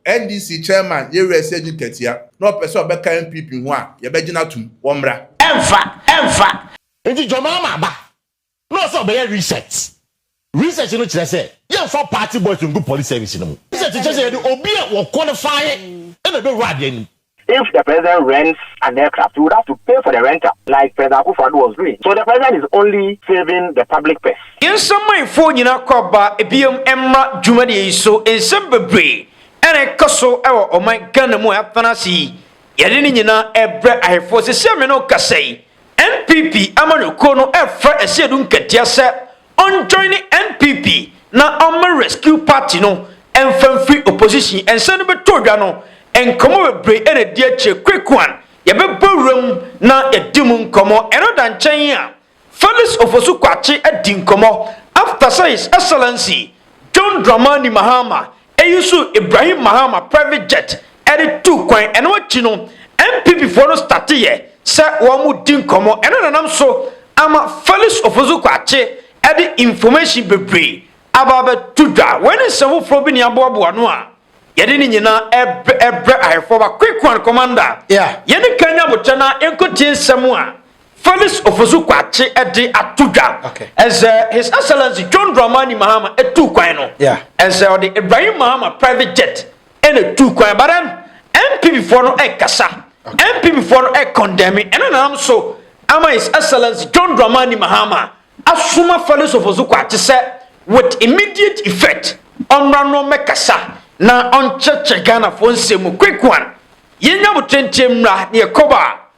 NDC chairman Yereɛ Sergey Katia na ɔpɛ sɛ ɔbɛka NPP ho a, yɛbɛgye no atom. Wɔmmra. Ɛmfa, ɛmfa. Nti John Mahama aba na ɔsɛ ɔbɛyɛ research. Research no kyerɛ sɛ yɛmfa party boys ngu police service no mu. Research kyerɛ sɛ yɛde obi a wɔqualify na ɛbɛwura adeɛ no mu. If the president rents an aircraft he would have to pay for the rental like President Akuffo Addo was doing so the president is only saving the public purse. Yɛnsɔ manfoɔ nyinaa kɔ aba bio mmra dwumadie yi so. Nsɛm bebree na ɛkɔ so wɔ ɔman Ghana mu a yɛatena ase yi. Yɛde ne nyinaa rebrɛ ahefoɔ. Seesei a me ne wo kasa yi, NPP amanyɔkuo no refrɛ Asiedu Nkatia sɛ Ɔnjoine NPP na ɔmma Rescue Party no mfa mfiri opposition. Nsɛm no bɛtɔ dwa no, nkɔmmɔ bebree na ɛdi akyire. Quick one, yɛbɛbɔ wura mu na yɛadi mu nkɔmmɔ. Ɛno da nkyɛn a, Felix Ofosu-Kwakye adi nkɔmmɔ after sɛ His Excellency John Dramani Mahama Eyi so Ibrahim Mahama private jet de tuu kwan. Ɛno akyi no, NPP foɔ no stateeɛ sɛ wɔredi nkɔmmɔ. Ɛno na nam so ama Felix Ofosu Kwakye de information bebree aba abɛto dwa. Wei ne nsɛm foforɔ bi na yɛaboaboa ano a yɛde ne nyinaa rebrɛ ahwɛfoɔ. Ba Quick One Commander, yɛne kan nyɛ aboterɛ na yɛnkɔtie nsɛm a Felix Ofosu Kwakye de ato dwa sɛ His Excellency John Dramani Mahama tu kwan no, sɛ ɔde Ibrahim Mahama private jet na tu kwan but then NPP foɔ no ɛkasa, NPP foɔ no ɛkɔndɛmi, ɛno na nam so ama His Excellency John Dramani Mahama asoma Felix Ofosu Kwakye sɛ with immediate effect ɔmmra no mmɛkasa na ɔnkyerɛkyerɛ Ghanafoɔ nsɛm mu quick one, yɛnya botenteɛ mmra na yɛkɔba.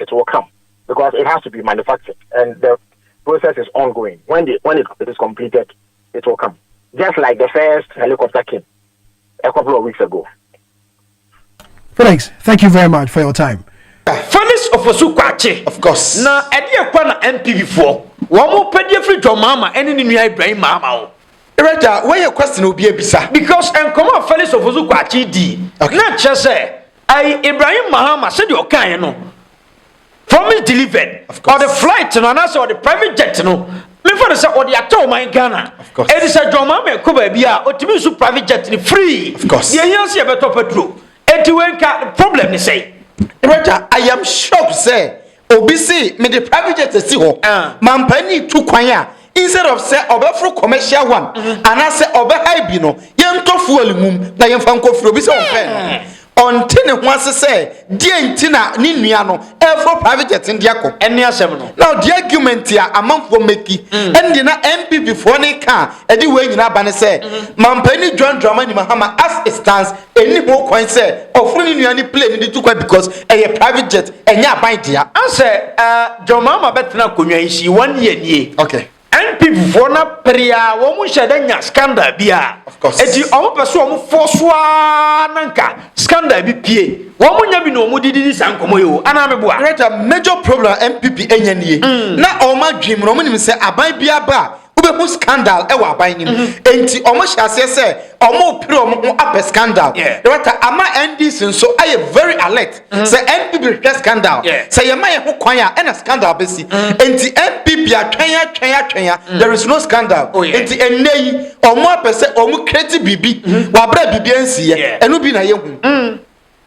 it will come because it has to be manufactured and the process is ongoing when the when it, it is completed it will come just like the first helicopter came a couple of weeks ago. Felix, thank you very much for your time. Felix Ofosu Kwakye. Of course. Na ɛdeɛ kwa na NPP foɔ wɔn mo pɛ deɛ firi John Mahama ɛne ne nua Ibrahim Mahama o. Raja, where your question will be a bisa. Because nkɔmɔ a Felix Ofosu Kwakye di. Okay. Na kyerɛ sɛ. Ayi Ibrahim Mahama sɛdeɛ ɔkaeɛ no promise delivered ɔde flight no anaasɛ ɔde private jet no mefa no sɛ ɔde atɔ ɔman Ghana ɛde sɛ John Mahama ɛkɔ baabi a ɔtumi nso private jet no free deɛ hia sɛ yɛbɛtɔ patro ɛnti wei nka problem ne sɛ Director, I am shocked sɛ Obi se mede private jet asi hɔ ma mpanin tu kwan a, instead of sɛ ɔbɛforo commercial one anaasɛ ɔbɛhae bi no, yɛntɔ fuel ngum na yɛmfa nkɔfiri. Obi sɛ ɔmpɛ no. Ɔnte ne ho ase sɛ deɛn nti na ne nua no reforo private jet no de akɔ. Ɛne asɛm no. Now the argument a amanfoɔ meki, ɛno deɛ na NPP foɔ no reka a ɛde wei nyinaa ba ne sɛ, Mampanin John Dramani Mahama as it stands, ɛnni ho kwan sɛ ɔforo ne nua ne plane de tu kwan because ɛyɛ private jet ɛnyɛ aban dea. Ansɛ uh, John Mahama bɛtena akonnwa yi si one year nie. Okay. NPP foɔ na pere a wɔn nhyɛ da nya scandal bi a. Of course. Eti wɔn pɛ so wɔn fɔ so aa na nka scandal bi pie. Wɔn nya bi na wɔn didi di saa nkɔmɔ yi o. Anaa mi boa. Greater major problem a NPP enya nie. Mm. Na wɔn adwene mu na wɔn nim sɛ aban bi aba a. Wobɛhu scandal wɔ aban no mu. Enti wɔn hyɛ aseɛ sɛ wɔn pere wɔn ho apɛ scandal. Yeah. Director, ama NDC nso ayɛ very alert. Sɛ NPP hwehwɛ scandal, Yeah. sɛ yɛma yɛn ho kwan a, ɛna scandal bɛsi. Enti NPP atwɛn atwɛn atwɛn a, there is no scandal. Oh, yeah. Enti ɛnnɛ yi, wɔn apɛ sɛ wɔn create biribi wɔ abere a biribi ansiiɛ. Yeah. Ɛno bi na yɛhu.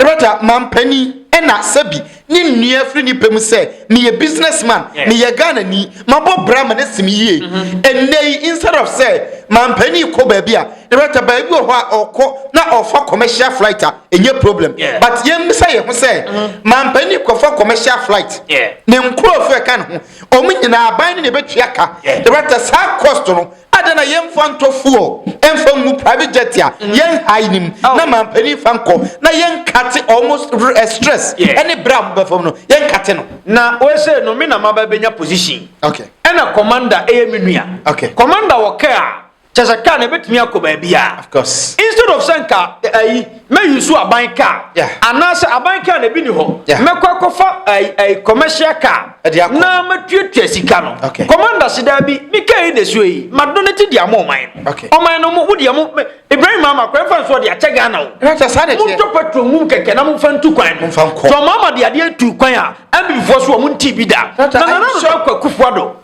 Roger, Mampanin, ɛna Sebi ne nnua firi ne pɛ mu sɛ, Meyɛ business man, meyɛ Ghanani, mabɔ bra ma no asi me yie. Ɛnnɛ yi, instead of sɛ Mampanin kɔ baabi a, Roger baabi wɔ hɔ a ɔkɔ na ɔfa commercial flight a, ɛnyɛ problem. But yɛmmisa yɛn ho sɛ, Mampanin kɔfa commercial flight, ne nkurɔfoɔ a ɛka ne ho, wɔn nyinaa aban no na ɛbɛtua ka. Roger, saa cost no, Adɛn na yɛmfa ntɔ fuel mfa ngu private jet a yɛn high nim oh. na mampanin fa nkɔ na yɛnkate almost eh, stress ɛne berɛ a mobɛfa mu no yɛnkate no na wɔsɛ no me na maba bɛnya position okay. ɛna commander ɛyɛ me nua okay. commander wɔ kaa kyɛ sɛ kaa na ɛbɛtumi akɔ baabi a instead of sɛ nka ayi eh, Mɛyusu aban kaa. Yeah. Anaasɛ aban kaa na ebi ni hɔ. Yeah. Mɛkɔ akɔfa ɛɛ ɛɛ commercial car. Ɛde akɔ. Na mɛtuatua sika no. Okay. Commander si daabi ne kaa yi na esuo yi ma do ne ti di ama ɔman no. Okay. Ɔman no mo wodi ɛmo Ibrahim Mahama kwan fa nso ɔde akyɛ Ghana o. Ɛnata saa de teɛ. Mo ntɔ petrol mu kɛkɛ na mo fa ntu kwan no. Mo fa nkɔ. Tɔ Mahama de adeɛ tu kwan a ɛmbifoɔ so ɔmo nti bi da. Ɛnata ayi sɔ. Na nana no kɔ kufuado.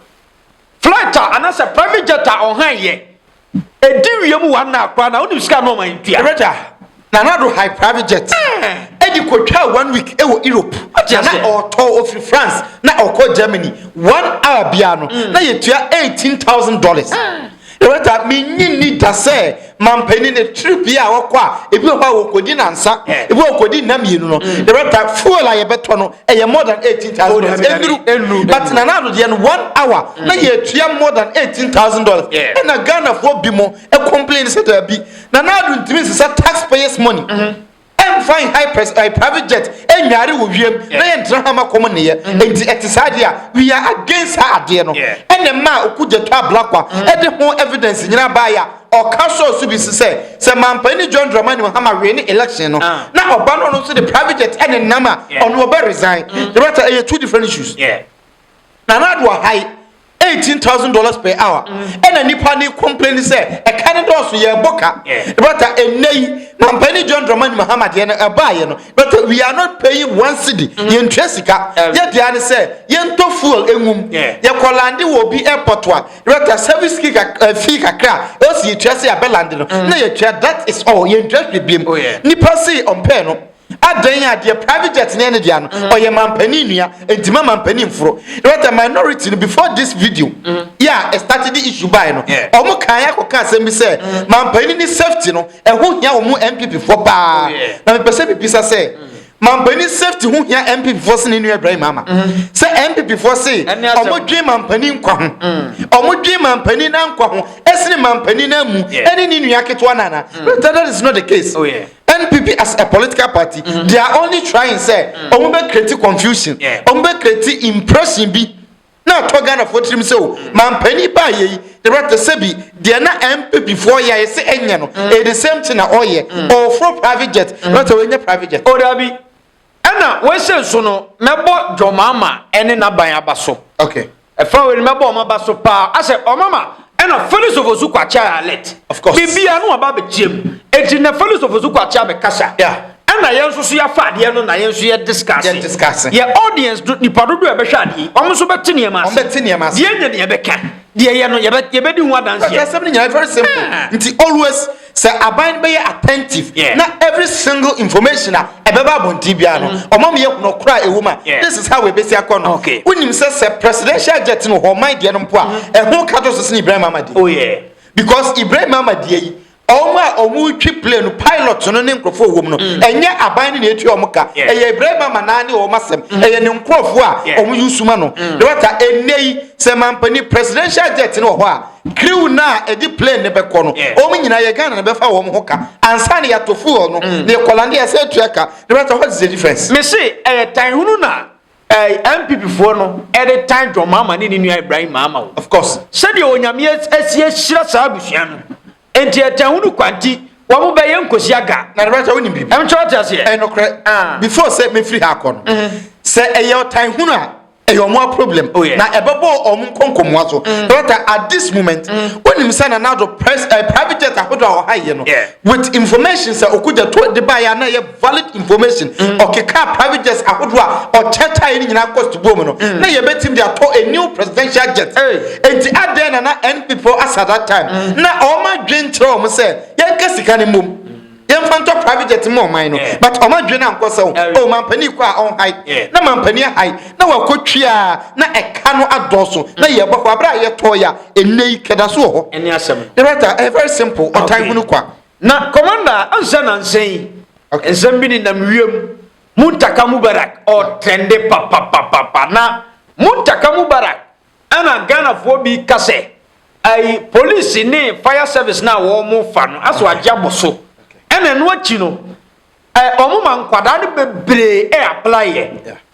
Flight a anasɛ private jet a ɔhan yɛ ɛdi wia mu one hour koraa na wonim sika a na ɔma ntua. Ɛbɛda na na do han private jet ɛdi kɔtwaa one week ɛwɔ Europe na na ɔtɔ ɔfiri France na ɔkɔ Germany one hour biara no na yɛtua eighteen thousand dollars. Loretta, Minnye nni da sɛ mampanin no trip yi a wɔkɔ a, ebi wɔ hɔ a wɔkɔdi nnansa, ebi wɔ hɔ wɔkɔdi nna mmienu no. Loretta, fuel a yɛbɛtɔ no, ɛyɛ more than eighteen thousand dollars ɛnuru ɛnuru but nana ado deɛ no one hour mm. na yɛtua more than eighteen thousand dollars ɛna ghanafoɔ bi mo ɛcomplain sɛ daabi nana ado ntumi nsesa taxpayers money ɛnfa mm-hmm. high press ɛɛ eh, private jet ɛnyaare wɔ wiem na yɛn ntena hama kɔm nneyɛ mm-hmm. nti ɛte saa deɛ a we are against saa adeɛ no ɛna mmaa okugya to ablakwa ɛde ho evidence nyinaa baayɛ a. Ɔka sɔɔ so bi nso sɛ, sɛ Manpaini John Dramani Mahama win election no, ah. na ɔba no ɔno nso de private jet ɛne nam a, ɔno ɔbɛ resign. Mm. Yɛbɛta ɛyɛ two different issues. Nana Addo Ahai, eighteen thousand dollars per hour. Mm. Ɛna nipa ne complain sɛ ɛka ne dɔɔso yɛ ɛbɔ ka. Yɛbɛta ɛnɛ yi, Manpaini John Dramani Mahama deɛ no ɛbaayɛ no, yɛbɛta we are not paying one cedi, mm. yɛntua sika. Yɛdeɛ ne sɛ, yɛntɔ fuel ɛngum, yɛkɔ lande wɔ obi airport a, Rota Savitsky fii kakra a ɛwɔ sɛ yɛtua sɛ yɛabɛ land no na yɛtua that is all yɛntua hwɛ biam. Oh, yeah. Nipa se ɔmpɛɛ no adɛn a deɛ private jet ne ɛne dea no mm-hmm. ɔyɛ mampani nua nti ma mampani mforo rota minority no before this video mm-hmm. yeah it started the issue by no ɔmo kan akɔ kan asɛm bi sɛ mm-hmm. mampani ne safety no ɛho hia ɔmo npp foɔ paa oh, na mepɛ sɛ bibisa sɛ. Mampanin safety ho hia NPP foɔ sene nua Ibrahim Ama. Sɛ NPP foɔ se ɔmo dwen mampanin nkwa ho. Ɔmo mm. dwen mampanin na nkwa ho. Esene mampanin na mu. Ene ne nua ketewa na na. Mm. That is not the case. Oh, yeah. NPP as a political party, mm-hmm. they are only trying say, mm. ɔmo bɛ create confusion. Ɔmo bɛ create impression bi. na atɔ ghanafoɔ tirim sɛ o mampani baayɛ yi ne bra te sɛ bi deɛ na mpp foɔ yɛ ayɛ sɛ ɛnyɛ no ɛyɛ the same thing na ɔyɛ ɔforo private jet na sɛ wɔnyɛ private jet o dabi ɛna wɔhyɛ nso no mɛbɔ dwɔmaama ɛne n'aban aba so okay ɛfa wei no mɛbɔ ɔmo aba so paa asɛ ɔmama Ɛna Felix Ofosu Kwakye ayɛ alert. Of course. Biribiara no aba abɛkyia mu. Eti na Felix Ofosu Kwakye abɛkasa. Yeah. Ɛna yɛn nso so yɛafa adeɛ no na yɛn nso yɛ discuss. Yɛ discuss. Yɛ audience no nipa dodoɔ a ɛbɛhwɛ adeɛ yi, wɔn nso bɛte nneɛma ase. Wɔn bɛte nneɛma ase. Deɛ yɛnyɛ no yɛbɛka. Deɛ yɛ no yɛbɛ yɛbɛdi ho adanseɛ. Ɛsɛ sɛm no nyinaa very simple. Ah. Nti always. Sɛ aban no bɛyɛ attentive yeah. na every single information a ɛbɛba abɔnten biara no mm-hmm. ɔma meyɛ hunu ɔkora a ɛwɔ mu a this is how ɛbɛsi akɔ no wonim sɛ sɛ presidential jet no hɔ ɔman deɛ no mpo a mm-hmm. ɛho ka to so sene ibrahim amadeɛ oh, because ibrahim amadeɛ yi ɔmo a ɔmo twi plane no pilot no ne nkurɔfoɔ wɔ mu no mm. ɛnyɛ aban no na etua ɔmo ka ɛyɛ ibrahim ama naa ne ɔmo asɛm mm. ɛyɛ ne nkurɔfoɔ a ɔmo yi suma no dɔkta mm. ɛnɛ yi sɛ mampani presidential jet no wɔ hɔ a. Crew no a ɛde plane no bɛkɔ no, wɔn nyinaa yɛ Ghana na bɛfa wɔn ho ka. Ansa na yɛato fuel no, mm. na yɛkɔ lande yɛsɛ atua ka. Na bɛsɛ what is the difference? Me se ɛyɛ tan hunu na ɛɛ eh, NPP foɔ no ɛde tan John Mahama ne ne nua Ibrahim Mahama o. Of course. Sɛdeɛ Onyame asi ahyira saa abusua no. Enti ɛtɛn wo no kwa nti wɔn bɛyɛ nkosi aga. Na ne ba sɛ wonim biribi. Ɛm kyerɛ ɔte aseɛ. Ɛyɛ nokorɛ. Ah. Before sɛ mefiri ha akɔ no. Mm -hmm. Sɛ ɛyɛ ɔtan hunu a ɛyɛ wɔn a problem. Oh, yeah. Na ɛbɛbɔ wɔn nkɔnkɔmua so. Mm. But uh, at this moment, mm. wonim sɛ Nana Addo press uh, private jet ahodoɔ a ɔha yɛ no. Yeah. With information sɛ okugya to de baeɛ a na ɛyɛ valid information ɔkekaa private jets ahodoɔ a ɔkyɛkyɛe no nyinaa cost buo mu no mm. na yɛbɛtumi de atɔ a new presidential jet enti adɛn na na npp asa that time mm. na ɔma dwen kyerɛ ɔm sɛ yɛnka sika no mmom yɛmfa ntɔ private jet mu ɔman no but ɔma dwen no ankɔ sɛ o oh, mampani kɔ a ɔnhae na mampani ahae na wakɔtwi a na ɛka no adɔɔso na mm. yɛbɔ hɔ aberɛ a yɛtɔɔ yɛ a ɛnnɛ yi kɛda so wɔ hɔ ne rata ɛyɛ eh, very simple ɔtan hunu kwa Na kɔmanda a ansa nansa yi okay. nsɛm bi nenam wiem muntaka mubarak ɔtrɛnde papapapapa na muntaka mubarak ɛna ghanafoɔ bi ka sɛ ayi polisi ne fire service no a wɔn fa no aso agye abɔ so ɛna ɛno akyi no ɛ wɔn ma nkwadaa no bebree ɛ apply yɛ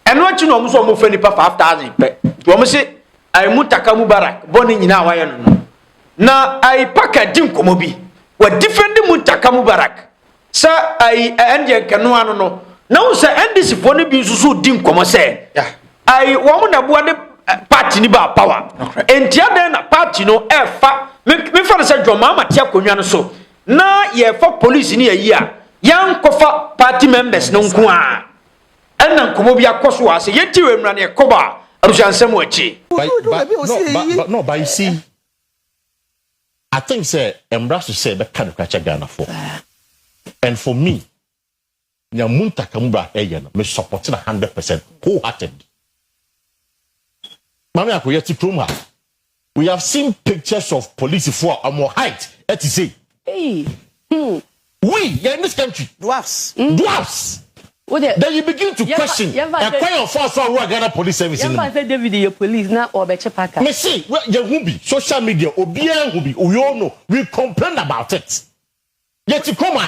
ɛno akyi no wɔn so wɔn fɛ nipa five thousand pɛ wɔn se ayi muntaka mubarak bɔ ne nyinaa wayɛ no no. na ayi paka di nkɔmɔ bi wɔ difɛndi muntaka mubarak sɛ ayi ɛndeɛ nkɛnoa no no na wo sɛ ndc foɔ no bi nso so di nkɔmɔ sɛ ayi wɔn na boa de party ni baa power nti adɛn na party no ɛfa mefa no sɛ dwɔn maama te akonnwa no so na yɛfa police ni ayi a yɛnkɔfa party members no nko a Ɛna nkɔmɔ bi akɔ so a sɛ yɛti wɔ mmra na yɛkɔ ba abusua nsɛm wɔ akyi. By by no by no by see I think sɛ mmra so sɛ bɛka no kura kyɛ Ghana fo and for me nya mu ntaka mu bra ɛyɛ no me support na hundred percent wholehearted. Maame ako yɛti krom ha. We have seen pictures of polisifo a wɔn height te sei. Eii hmm. We, yɛ in this country. Dwarfs. Mm. Dwarfs. Wode. Then you begin to question. Ɛkwan yɛ ɔfa so awura Ghana police service no. Yɛn fa sɛ David yɛ police na ɔbɛkye paka. Me se, yɛ hu bi, social media, obiara hu bi, we all know, we complain about it. Yɛ ti kɔma.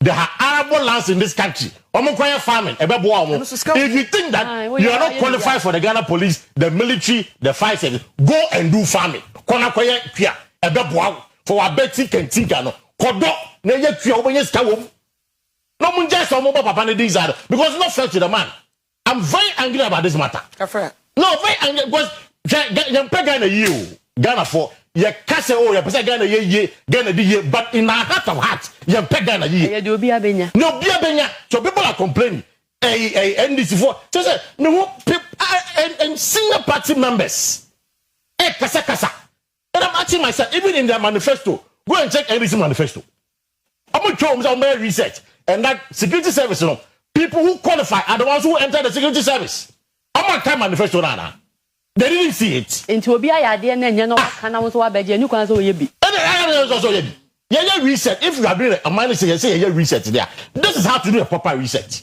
There are arable lands in this country. Omo koye farming. Ebe boa omo. If you think that ah, you are not qualified for the Ghana police, the military, the fire service, go and do farming. Kona koye kia. Ebe boa for our betting can think ano. Kodo na ye kia omo nye ska wom. No munja so omo papa ne din zaro because not fair to the man. I'm very angry about this matter. Afra. No, very angry because yɛn pɛ Ghana yie o. Ghana fo yɛ ka sɛ o yɛ pɛ sɛ Ghana yɛ yie, Ghana di yie, but in our heart of heart yɛn pɛ Ghana yie. Ɛyɛ de obi abenya. Na obi abenya. So people are complaining. Ɛyi ɛyi NDC fo sɛ sɛ me ho pe and senior party members ɛ kasa kasa And I'm asking myself, even in their manifesto, go and check NDC manifesto. I'm sure I'm some research, and that security service, you know, people who qualify are the ones who enter the security service. I'm a kind manifesto, nana. They didn't see it. Nti obi ayɛ adeɛ na ɛnyɛ na waka na wo nso wabɛgye ɛni kwan sɛ ɔyɛ bi. Ɛna ɛyɛ ɛna ɛyɛ sɛ ɔyɛ bi. Yɛyɛ research if you are doing a man sɛ yɛsɛ yɛyɛ research there. This is how to do a proper research.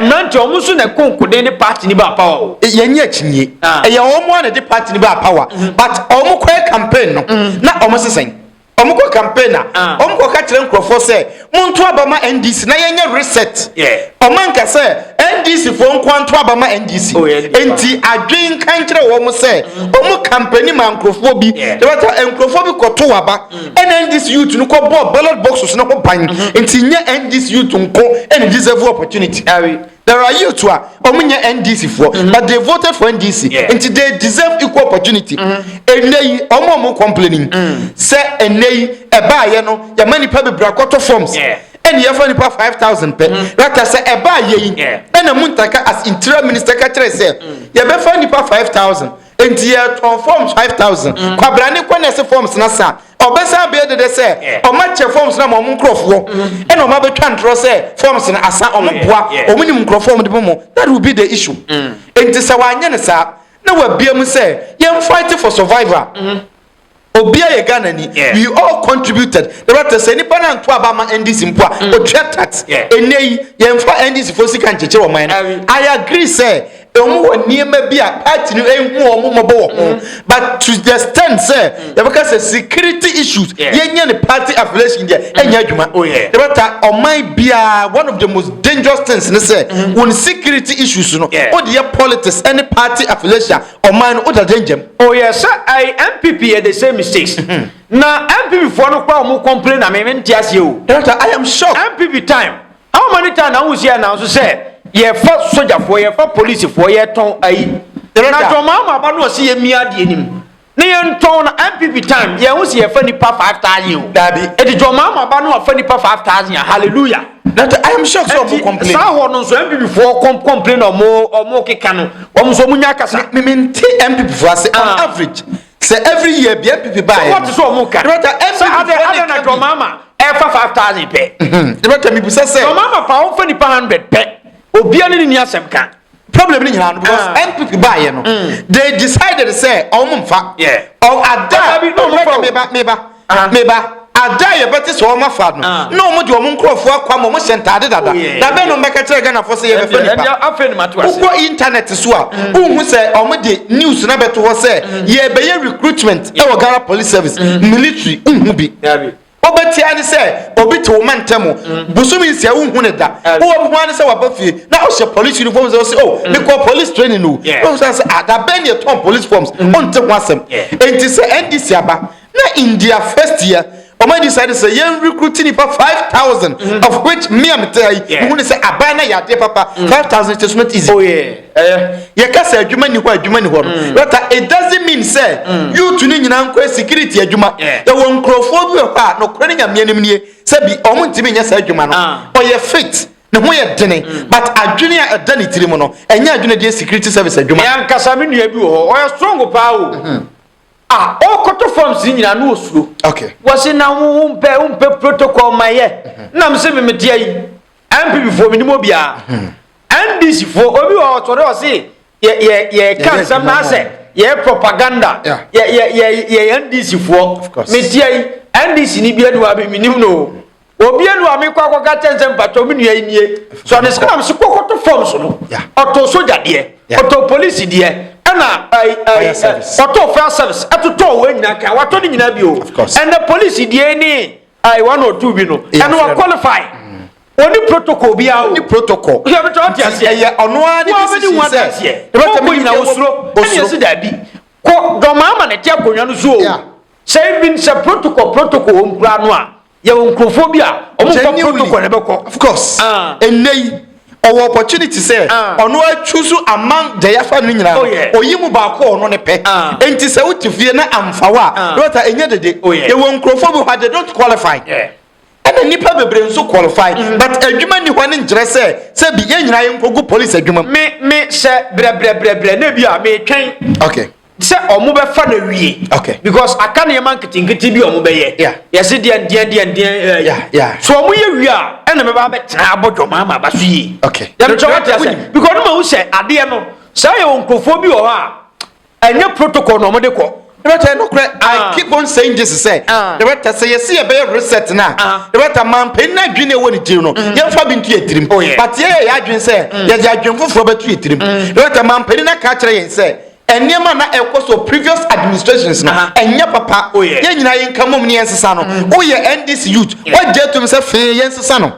Mmerante wɔn nso na ɛko nkoden ne party ni ba power o. Eh, yɛnyɛ akyinie. Ah. Ɛyɛ wɔn mu a na ɛde party ni ba power. Mm-hmm. But wɔn kɔɛ campaign no mm. na wɔn sesɛn. Wɔn kɔ campaign na ah. wɔn kɔ ka kyerɛ nkurɔfoɔ sɛ mo nto aba ma NDC na yɛnyɛ reset. Wɔn anka sɛ NDC foɔ nko anto aba ma NDC. Oh, Nti adwene nka nkyerɛ wɔn sɛ wɔn mm-hmm. campaign ma nkurɔfoɔ bi. Yɛbɛta nkurɔfoɔ bi kɔto aba. Ɛna NDC youth no kɔ bɔɔ ballot boxes no ho ban nti nyɛ NDC youth nko ɛna deserve opportunity. There are youth a ɔmo nyɛ NDC foɔ but they voted for NDC nti they deserve equal opportunity. Ɛnɛ yi ɔmo a ɔmo complaining sɛ ɛnɛ yi ɛbaayɛ no yɛma nipa bebree akɔtɔ forms ɛna yɛfa nipa 5000 pɛ rata sɛ ɛbaayɛ yi ɛna Muntaka as interior minister ka kyerɛ sɛ yɛbɛfa nipa 5000 Enti yɛtɔn forms five thousand. Mm. Kwabra ne kɔ na ɛsɛ forms na sa. Ɔbɛsan bɛyɛ dede sɛ ɔmo akyɛ forms na ma ɔmo nkorɔfoɔ. Mm-hmm. Ɛna ɔmo abɛtwa ntorɔ sɛ forms na asa ɔmo boa. Ɔmo nim nkorɔfoɔ ɔmo de bɔ mo. That will be the issue. Mm. Enti sɛ wanyɛ ne saa na wabia mu sɛ yɛn fight for survivor. Mm-hmm. Obia yɛ Ghana ni yeah. we all contributed ɛbɛtɛ sɛ nipa na nto aba ma NDC mpo a mm. otua tax ɛnɛ yi yɛmfa NDC fo sika nkyekyere wɔn ɛn I agree sɛ ɛmu wɔ nneɛma bi a party no ehu wɔn mmɔbɔ wɔ ho mm-hmm. but to the extent sɛ mm. yɛbɛka sɛ security issues yɛnyɛ ne party affiliation deɛ mm. ɛnyɛ adwuma oh, ɛbɛta ɔman biara one of the most dangerous things ne sɛ mm-hmm. wɔn security issues no o de yɛ politics ɛne party affiliation Ɔman no ɔda gyɛngyɛm. Ɔyɛ sɛ ɛyɛ NPP yɛ the same mistakes. Na NPP foɔ no koraa ɔmo complain na me me nte aseɛ o. Director I am shocked. NPP time how many time na wohu sɛ yɛ announce sɛ yɛfa sogyafoɔ yɛfa policefoɔ yɛtɔn ayi. Na John Mahama ba no ɔse yɛmia adeɛ no mu na yɛntɔn na NPP time yɛnhu sɛ yɛfa nipa five thousand o. Daabi. Eti John Mahama ba no afa nipa five thousand a hallelujah. na te i am shocked sɛ ɔmo complain saa hɔ no nso mpp foɔ com complain na ɔmo ɔmo keka no ɔmo nso ɔmo nya akasa me me nti mpp foɔ ase on ah. average sɛ every year bi mpp ba yɛ no wɔte sɛ ɔmo ka ɛbɛta mpp foɔ ne ka bi ɛna dɔmaama ɛfa five thousand pɛ ɛbɛta mi busa sɛ dɔmaama fa wɔn fɛ nipa hundred pɛ obiara ne ne ni asɛm ka problem ni nyinaa no because ah. npp baayɛ no mm. they decided sɛ ɔmo nfa ada meba meba ah. meba ada yɛ bɛte sɛ ɔmo afa no ah. na ɔmo de ɔmo nkorɔfoɔ akɔ ama ɔmo hyɛ ntaade dada oh, dabɛn na ɔmo bɛka kyerɛ ghana fo sɛ yɛ bɛfɛ nipa wokɔ internet so a mm. wohu sɛ ɔmo de news na bɛto hɔ sɛ mm. yɛ bɛyɛ recruitment ɛwɔ ghana police service military nhu bi. Wobɛtia ne sɛ obi te wo mantam mu mm. bosome nsia wonhu ne da wowɔ bi ho ane sɛ waba fie na ɔhyɛ police uniform sɛ ɔsɛ o oh, mm. mekɔ police training no wohu sɛ sɛ ada ah, bɛn ne ɛtɔn police forms mm. ɔnte ho asɛm enti sɛ ndc aba na in their first year ɔma di saa de sɛ yɛn recruit nipa five thousand of which mmea mete ha yi wohu ne sɛ aban na yɛ adeɛ papa five thousand kyɛ so not easy oh, yeah. Yɛka sɛ adwuma nni hɔ a, adwuma nni hɔ no, but it doesn't mean sɛ youth no nyinaa nkɔyɛ security adwuma. Yɛwɔ nkurɔfoɔ bi wɔ hɔ a nokorɛ ne Nyame anim nie, sɛbi wɔn ntumi nyɛ saa adwuma no. Ɔyɛ fit, ne ho yɛ dene, but adwene a ɛda ne tirim no, ɛnyɛ adwene a ɛde yɛ security service adwuma. Me ankasa me nua bi wɔ hɔ, ɔyɛ strong paa o, ah, ɔkɔtɔ forms no nyinaa na ɔsuro. Ɔse na wo wo mpɛ wo mpɛ protocol ma yɛ, na mese me mete ayi. NPP foɔ menim obiara. NDC foɔ obi wɔ ɔtɔre ɔse yɛ yɛ yɛ ka nsɛm na asɛ yɛ propaganda. Yɛ yɛ yɛ yɛ NDC foɔ. Metia yi NDC ni bi anu abi menim no. Obi anu a mekɔ akɔka kyɛn sɛ mpatɔ me nua yi nie. So ɔde sɛ nam so kɔkɔto fam so no. Ɔtɔ soja deɛ. Ɔtɔ polisi deɛ. Ɛna ɔtɔ fire service. Ɛtotɔ wɔ nyinaa kan. Watɔ ne nyinaa bio. Ɛnɛ polisi deɛ ni. a ɛwɔ na ɔtu bi no ɛno wa qualify ɔni mm. protocol bi awo ɔni protocol yɛ bɛ tɔn ti aseɛ ɛyɛ ɔno ara ne bi sisi sɛ ɛbɛ tɛ mi nyina osuro ɛni esi daabi kɔ dɔmaa ama na ɛte akonnwa no so o sɛ ebi sɛ protocol protocol wɔn kura no a yɛ wɔn nkurɔfoɔ bi a wɔn kɔ protocol na ɛbɛ kɔ of course ɛnɛ ah. yi. Ɔwɔ opportunity sɛ ɔno a choose among Jayafa no nyinaa no, ɔyi mu baako a ɔno ne pɛ. Enti sɛ wote fie na amfa wo a, Dorothy, ɛnyɛ dede. Yɛwɔ nkurɔfoɔ bi hɔ a, they don't qualify. Ɛna nnipa bebree nso qualify, but adwuma nni hɔ no nkyerɛ sɛ, sɛ bi, yɛn nyinaa yɛnkɔgu police adwuma mu. Me, me hyɛ brɛbrɛbrɛbrɛ na ebia metwɛn. Okay. sɛ ɔmo bɛfa no awie okay. because aka nneɛma nketenkete bi ɔmo bɛyɛ yeah. yɛse deɛ deɛ deɛ deɛ eh, yeah, yeah. so ɔmo yɛ wie a ɛna mɛba abɛtena abɔ dwom ama aba so yie okay. yɛmekyɛ wate asɛ because no ma hu sɛ adeɛ no saa yɛ wɔ nkurɔfoɔ bi wɔ hɔ a ɛnyɛ protocol na ɔmo de kɔ Director, no cry. I ah. keep on saying this. Say, ah. director, say you see a better reset now. Ah. Director, man, pay na green away the dream. Mm. You have been to a dream. Oh, but yeah, I dream say, mm. yes, I dream for a dream. Mm. Director, man, pay na catch and say. Nneɛma a na ɛkɔ so previous administrations no ɛnyɛ papa, yɛn nyinaa yɛn nka mmom na yɛn sesa no. Wo yɛ NDC youth, wo gye tom sɛ fee yɛn sesa no?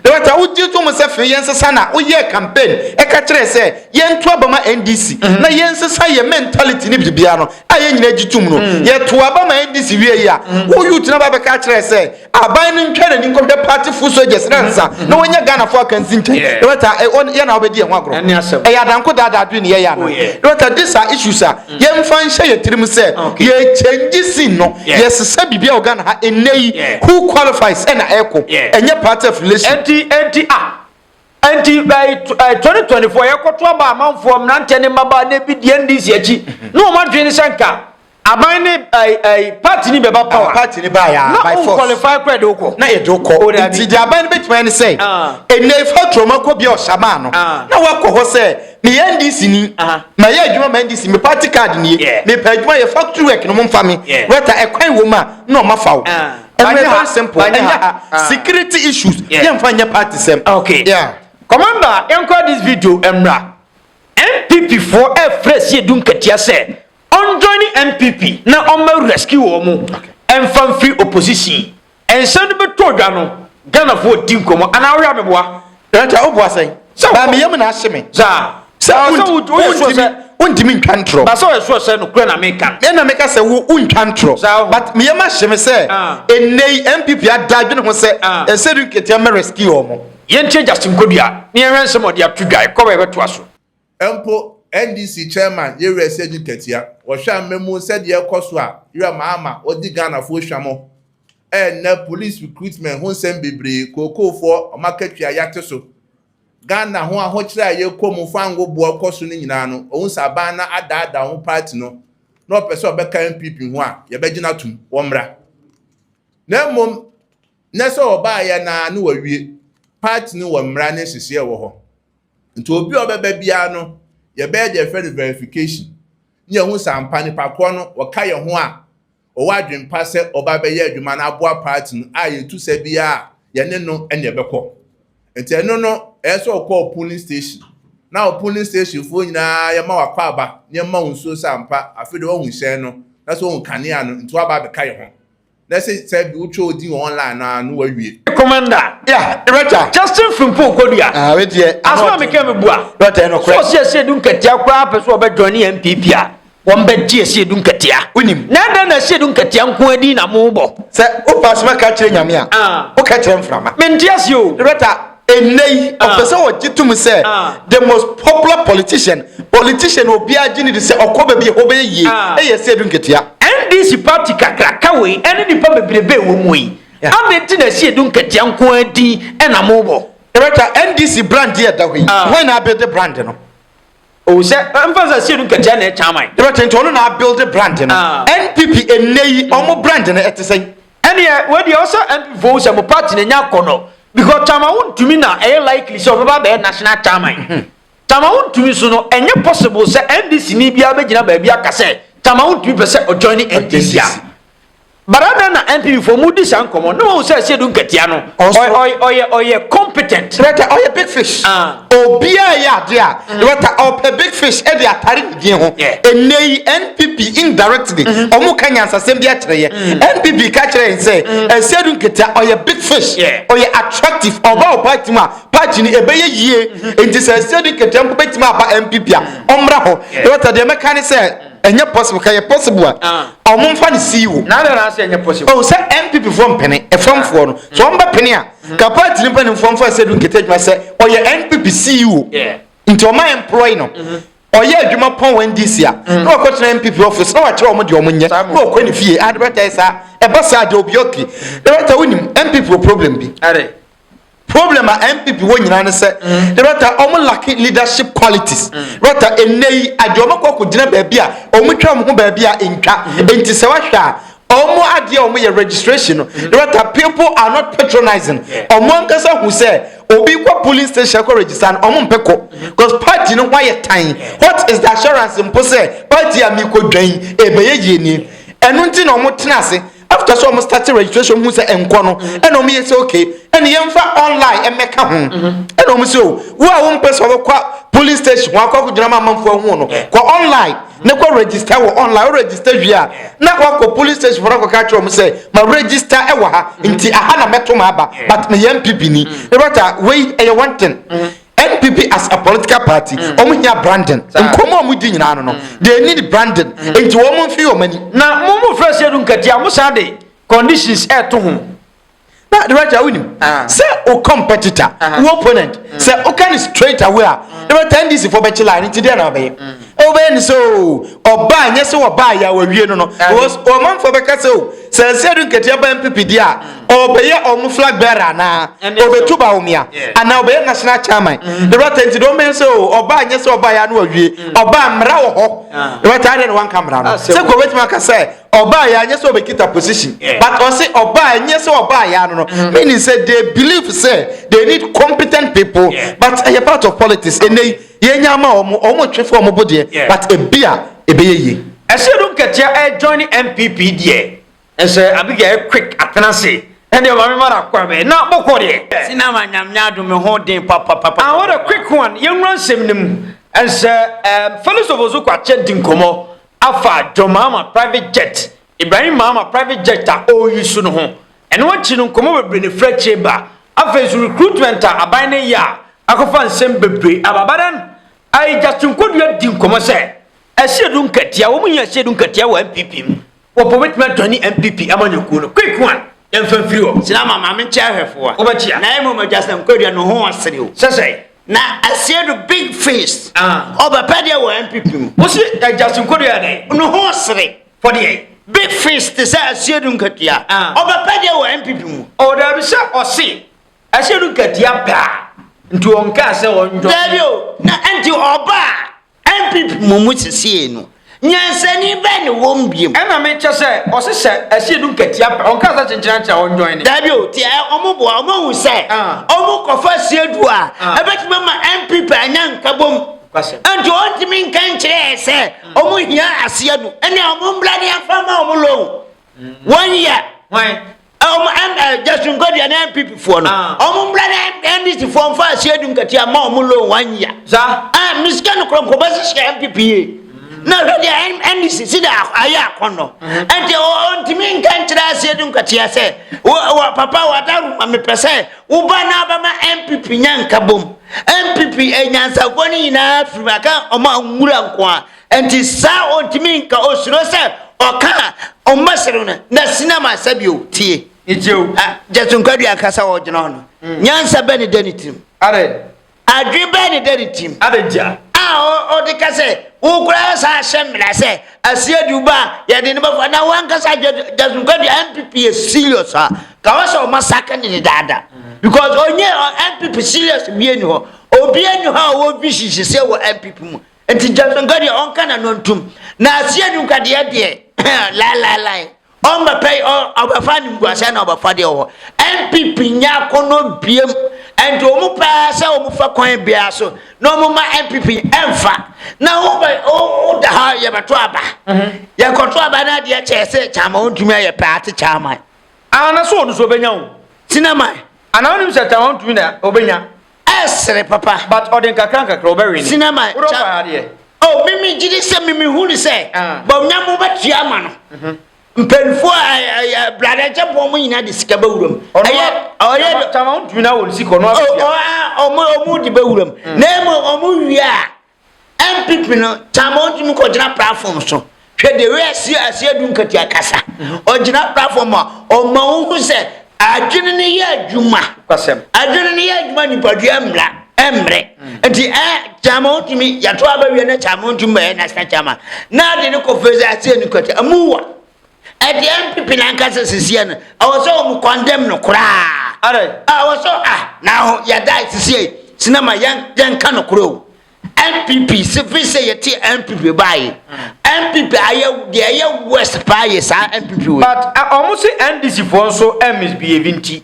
Na wɔ ta wo gye tom sɛ fee yɛn sesa no a, wo yɛɛ campaign ɛka kyerɛɛ sɛ yɛn to aba ma NDC na yɛn sesa yɛn mentality ne biribiara no a yɛn nyinaa gye tom no. Yɛ to aba ma NDC wie yi a, wo youth no aba abɛka akyerɛ sɛ, Aban no ntwa n'ani nkɔhwɛ party foot soldiers no ansa na wɔanya Ghana fo akansi nkyɛn. Yeah. Na wɔta eh, wɔn yɛ na wɔbɛdi yɛn ho agorɔ. Ɛne asɛm. Ɛyɛ adanko daadaa adwene ne yɛyɛ ana. Oh, yeah. Na wɔta this are issues a mm. yɛmfa nhyɛ yɛ tirim sɛ okay. yɛ change scene no yeah. yɛsesa biribi a wɔ Ghana ha ɛnɛ yi yeah. who qualifies ɛna ɛkɔ yeah. ɛnyɛ party affiliation. Ɛnti ɛnti ah Nti ɛɛ eh, tw- ɛɛ, 2024 yɛkɔto aba amanfoɔ mmeranteɛ ne mmabaa na ebi deɛ ndc akyi na wɔn adwene ne sɛ nka aban ne ɛɛ ɛɛ party ne bɛba power party ne baa yɛ na by wɔn force qualify kora de wokɔ na yɛde wokɔ O, dabi. nti deɛ aban no bɛtumi ayɛ ne sɛ Ah. ɛnɛ ɛfa turoma kɔ bia ɔsamaa no Ah. na woakɔ hɔ sɛ meyɛ ndc ni Aha. mayɛ adwuma ma ndc me party card nie Yeah. mepɛ adwuma yɛ factory work no momfa me Yeah. wɛta ɛkwan wɔ mu a na ɔmafa wo Ah. Ɛnyɛ ha, ɛnyɛ ha. Ah. Security issues. Yeah. Yɛmfa nyɛ party sɛm. Okay. Yeah. Commander, yɛnkɔ this video mmra. NPP foɔ ɛfrɛ si edu nkatia sɛ ɔnjoini NPP na ɔmma rescue wɔn mu ɛnfa mfiri opposition. Nsɛm no bɛtɔ dwa no, Ghanafoɔ di nkɔmmɔ anaa wohwɛ abɛboa? Ɛnti a wobua sɛn? Baa me yam na ahye me. Saa. Sɛ wontimi wontimi ntwa ntorɔ. Ba sɛ ɔyɛ sure sɛ nokorɛ na meka no. Ɛna meka sɛ wo wontwa ntorɔ. Saa. But me yam ahye me sɛ ɛnnɛ yi NPP ada adwene ho sɛ ɛnsɛ du nketewa mɛ rescue wɔn. Yɛntie Justin Kodua na yɛnhwɛ nsɛm a ɔde ato dwa. Ɛkɔm a yɛbɛtoa so. Mpo NDC Chairman Yereɛ Sedzi Katia, wɔhwɛ a mmamu sɛdeɛ ɛrekɔ so a yerɛ ma ama wɔdi Ghanafoɔ hwam. Ɛnnɛ Police recruitment ho nsɛm bebree, kookoofoɔ, wɔn akatua yɛate so. Ghana ho ahokyerɛ a yɛrekɔ mu fango boɔ rekɔ so no nyinaa no, wɔhu sɛ aban no adaadaa wɔn party no na wɔpɛ sɛ wɔbɛka NPP ho a, yɛbɛgyina atom, wɔmmra. Na mmom nnɛ sɛ wɔbaeɛ no ara na wɔawie, party no wɔ mmara ne nhyehyɛɛ wɔ hɔ. Nti obi a ɔbɛba biara no, yɛbɛyɛ deɛ yɛfrɛ no verification ne yɛahu sɛ ampa nipa korɔ no wɔka yɛn ho a ɔwɔ adwene pa sɛ ɔba abɛyɛ adwuma no aboa party no a yɛtu sa biara a yɛne no ɛne yɛbɛkɔ. Nti ɛno no ɛyɛ sɛ ɔkɔ polling station na wɔ polling station foɔ nyinaa yɛma wakwaaba na yɛma wo nsuo sɛ ampa afei deɛ woahu hyɛn no na sɛ wohu kanea no nti woaba abɛka yɛn ho. na sɛ sɛ bi wotwa odi wɔ online no a na wawie. commander yeah rɛta justin fimpo okodua ah we deɛ asoma mi kɛ mi bua rɛta ɛno korɛ so ɔsi ɛsi edu nketea koraa pɛ so ɔbɛ join ne npp a wɔn bɛ gye ɛsi edu nketea wonim na ɛdɛn na ɛsi edu nketea nko adi na mo bɔ sɛ o pa asoma ka kyerɛ nyame a o ka kyerɛ nframa mi nti ɛsi o rɛta Ɛnnɛ yi, ɔpɛ sɛ ɔgye tom sɛ the most popular politician, politician a obiara gye no di sɛ ɔkɔ baabi a ɛhɔ bɛyɛ yie, yɛ sɛ edu nketewa. NDC party kakraka wei ne nnipa bebrebe a ɛwɔ mu yi, adɛn nti na ɛsɛ edu nketewa nko ara din na mobɔ? Yɛbɛka NDC brand a ɛda hɔ yi, hwan na abɛde brand no? Ohu sɛ ɛmfa sɛ sie no nkakyia na ɛkyɛ aman. Dɛbɛ tenten ɔno na abuilde brand no. Ah. NPP ɛnnɛ yi ɔmo brand no ɛte sɛn? Ɛneɛ wei deɛ ɔsɛ NPP foɔ hu sɛ mo party no ɛnya akɔ nɔ because Tama wo ntumi na ɛyɛ likely sɛ ɔbɛba abɛyɛ national chairman. Mhm. Tama wo ntumi so no ɛnyɛ possible sɛ NDC ni biara bɛgyina baabi aka sɛ Tama wo ntumi pɛ sɛ ɔjoin NDC a. But adɛn na NPP fo ɔmo di saa nkɔmɔ na wɔn sɛ Asiedu Nkatia no ɔyɛ ɔyɛ competent. Rɛta ɔyɛ big fish. Obia yɛ adeɛ a Rɛta ɔpɛ big fish ɛde atare ne din ho. Ɛnɛ yi NPP indirectly ɔmo ka nyansasɛm bi akyerɛ yɛ. NPP ka kyerɛ yɛn sɛ Asiedu Nkatia ɔyɛ big fish, ɔyɛ attractive, ɔba wɔ party mu a party no ɛbɛyɛ yie. Nti sɛ Asiedu Nkatia mpo bɛtumi aba NPP a ɔmmra hɔ. Rɛta deɛ mɛka ne sɛ. ɛnyɛ possible ka yɛ possible a ah. ɔmo nfa ne sii hɔ. na adana ase ɛnyɛ possible. o oh, sɛ npp fo mpene ɛfɔmfoɔ no so ɔmo bɛ pene a mm-hmm. ka paati ne mpanimfoɔ nfa sɛ du nkete adwuma sɛ ɔyɛ npp ceo nti ɔmo employ no mm-hmm. ɔyɛ adwuma pɔn wɔn ndc a mm-hmm. na ɔkɔ tena npp office na wakyerɛ ɔmo deɛ ɔmo nyɛ na ɔkɔ ne fie adebɛta ah, yɛ saa ɛba saa deɛ obi ɔke ɛbɛta wonim npp problem bi. Problem a NPP wɔ nyinaa ne sɛ mm. rata wɔn lacking leadership qualities mm. rata ɛnɛ yi adi wɔn akɔ akɔ gyina baabi a wɔn twa wɔn ho baabi a ntwa mm. nti sɛ wahwɛ a wɔn adeɛ a wɔn yɛ registration no rata people are not patronizing wɔn ankasa hu sɛ obi kɔ polling station kɔ register no wɔn mpɛ kɔ because party no ho ayɛ tan what is the assurance mpo sɛ party a mi kɔ dwan ebɛyɛ yie nie ɛno nti na wɔn tena ase. After sɛ ɔmo start registration ɔmo hu sɛ ɛnkɔ no ɛna ɔmo yɛ sɛ okay ɛna yɛnfa online ɛmɛka ho ɛna ɔmo sɛ o wo a wompɛ sɛ ɔbɛkɔ polling station wakɔ akɔgyina ma amanfoɔ ahu no kɔ online ne kɔ register wɔ online o register wie a na wakɔ polling station fɔlɔ akɔka kyerɛ ɔmo sɛ ma register ɛwɔ ha nti aha na mɛto ma aba but meyɛ NPP ni ne bata wei ɛyɛ one thing npp as a political party mm. wɔn hia branding nkɔmɔ a wɔn di nyinaa no no mm. they need branding mm. nti wɔn mo nfi wɔn ani. na mo mo fɛ sɛ ɛdu nkati a mo san de conditions ɛɛto ho. na dɛbɛtɛ awo nim ah. sɛ o competitor ah. o opponent sɛ o ka ni straight away a dɛbɛtɛ ndc fɔ bɛ kyi line nti deɛ na ɔbɛyɛ. Wobɛyɛ no sɛ o ɔbaa nyɛ sɛ wɔbaa yɛ a wɔawie no no because ɔmanfoɔ bɛka sɛ o sɛ nse adu nketewa bɛn pipidi a ɔbɛyɛ ɔmo flag bearer anaa ɔbɛtu baomia anaa ɔbɛyɛ national chairman ɛbɛta nti deɛ ɔmbɛyɛ sɛ o ɔbaa nyɛ sɛ ɔbaa yɛ a na wɔawie ɔbaa mmara wɔ hɔ ɛbɛta adeɛ na wanka mmara no sɛ kɔ bɛtumi aka sɛ ɔbaa yɛ a nyɛ sɛ ɔbɛkita position but ɔse ɔbaa nyɛ sɛ ɔbaa yɛ a no no meaning sɛ they believe sɛ they need competent people but ɛyɛ part of politics ɛnɛ yi Yenya ma wɔn, wɔn twe fo wɔn bo deɛ, yeah. but ebi a ebɛyɛ yie. Ɛsɛ do nketea ɛ join NPP deɛ. Ɛsɛ Abigail ɛ quick atena se. Ɛnde maame mara kɔ bɛ na bɔkɔ deɛ. Sina ma nyame adum me ho den papapapa. Ah what a quick one. Yɛnwura nsɛm no mu. Ɛsɛ um, Felix Ofosu Kwakye di nkɔmmɔ afa John Mahama private jet Ibrahim Mahama private jet a ɔreyi so no ho. Ɛno akyi no nkɔmmɔ bebree na ɛfiri akyire ba. Afei nso recruitment a aban no reyɛ a akɔfa nsɛm bebree aba. But then I Justin Kodua di nkɔmmɔ sɛ Asiedu Nketiah, wɔn hia Asiedu Nketiah wɔ NPP mu. Wɔpɛ wɔbɛtumi ajoine NPP amanyɔkuo no. Quick one, yɛmfa mfiri hɔ. Sɛ na ama Maame Nkyea ahwɛfoɔ a, wobɛkyea. Na mmom Justin Kodua ne ho asere o. Sɛ sɛn? Na Asiedu big face, ɔbɛpɛ deɛ wɔ NPP mu. Wo se Justin Kodua yɛ dɛn? Ne ho sere. For the end. Big face te sɛ aseɛ du nkatua. Ah. Ɔbɛpɛ deɛ wɔ MPP mu. Ɔwɔ daabi sɛ ɔse aseɛ du nkatua pɛ a nti ɔnkaa sɛ ɔnjɔ. Daabi o na nti ɔba a MPP mu mu sesie no nyansani bɛn ne wɔm biom. Ɛna me kyɛ sɛ ɔse sɛ aseɛ du nkatua pɛ ɔnkaa sɛ kyenkyen akyɛ a ɔnjɔn ne. Daabi o ti ɔmo boa ɔmo ahu sɛ ah. ɔmo kɔfa aseɛ du a ah. ɛbɛtumi ama MPP anya nkabom. Nti ɔntumi nka nkyerɛ sɛ wɔn hia aseɛ no ɛne wɔn mbra ne afa ma wɔn loan wɔn yɛ wɔn Justin Godwin ne NPP foɔ no wɔn mbra ne NDC foɔ nfa aseɛ dum katia ma wɔn loan wɔn yɛ a misika no korɔ nkɔbɔ sisi NPP yie na hwɛ deɛ NDC si de ayɛ akɔnɔ ɛnti ɔntumi nka nkyerɛ aseɛ dum katia sɛ wɔ papa wɔ adaru ma mepɛ sɛ Wo ba no abɛma NPP nya nkabom. NPP anyansafoɔ no nyinaa firi mu aka wɔn a nwura nko a. Nti saa ɔntumi nka osuro sɛ ɔka a ɔmmɛsere no na sinama sɛ bio tie. Ijew. Ah, Jason Kwadua kasa wɔ gyina hɔ no. Mm. Nyansa bɛ ne da ne tirim. Are, Adwene bɛn na ɛda ne tirim? Adɛn nti a? A ɔde ka sɛ, Wo koraa san ahyɛ mmara sɛ aseɛ de wo ba a yɛde no bɛfa na wankasa Jackson Kwadu a NPP yɛ serious a ka wɔ sɛ ɔma saka ne ne daada because ɔnyɛ NPP serious bia ni hɔ obia ni hɔ a ɔwɔ vision sese wɔ NPP mu nti Jackson Kwadu a ɔnka na no ntum na aseɛ de nkwadeɛ deɛ lai lai lai Ɔmbɛpɛ yi ɔ ɔbɛfa animguaseɛ na ɔbɛfa deɛ ɔwɔ. NPP nyɛ akɔnɔ biam ɛnti ɔmo pɛ ara sɛ ɔmo fa kwan biara so na ɔmo ma NPP ɛnfa na wo bɛ wo wo da hɔ yɛbɛto aba yɛ kɔto aba na adeɛ kyɛɛ sɛ kyaama ɔntumi ayɛ pɛ ate kyaama. Aa na so ɔno so ɔbɛnya o. Tinaman. Anaa wonim sɛ Tamaman tumi na ɔbɛnya. ɛsere papa. but ɔde nkakra nkakra ɔbɛwene. sina ma wodɔ kya paa deɛ. oh mimi gye di sɛ mimi hu ne sɛ Ah. bɔ nyam wobɛtua ama no mhm. mpanimfoɔ ɛ- ɛ- ɛ- ɛ- bradakyɛfoɔ mo nyinaa de sika bɛwura mu ɔno ɛyɛ a- ɔyɛ tama- tama wotumi na wɔn sika ɔno Oh, abɛtua oh, ah, ɔmo ɔmo de bɛwura mu na mmom ɔmo wie a NPP no taa ma ɔtumi kɔgyina platform so. Hwɛ de wei asie asie adu nkatua kasa. Ɔgyina platform a ɔma wohu sɛ adwene no yɛ adwuma. Adwene no yɛ adwuma nipadua mmra mmrɛ. Nti ɛ taa ma ɔtumi yɛto aba wie na taa ma ɔtumi bɛyɛ national chairman. Na ade no kɔ fɛ sɛ asie no nkatua. Amuwa. ɛdeɛ npp nankasa sisiɛ no ɛwɔ sɛ wɔn condemn no koraa ɛwɔ sɛ ah na ho yɛda sisiɛ sinama yɛn yɛn ka no korɛ o npp sifi sɛ yɛte npp baayi npp ayɛ deɛ ɛyɛ west paa yɛ saa npp wɔ. but wɔn uh, si ndc foɔ nso ɛ eh, misbehave nti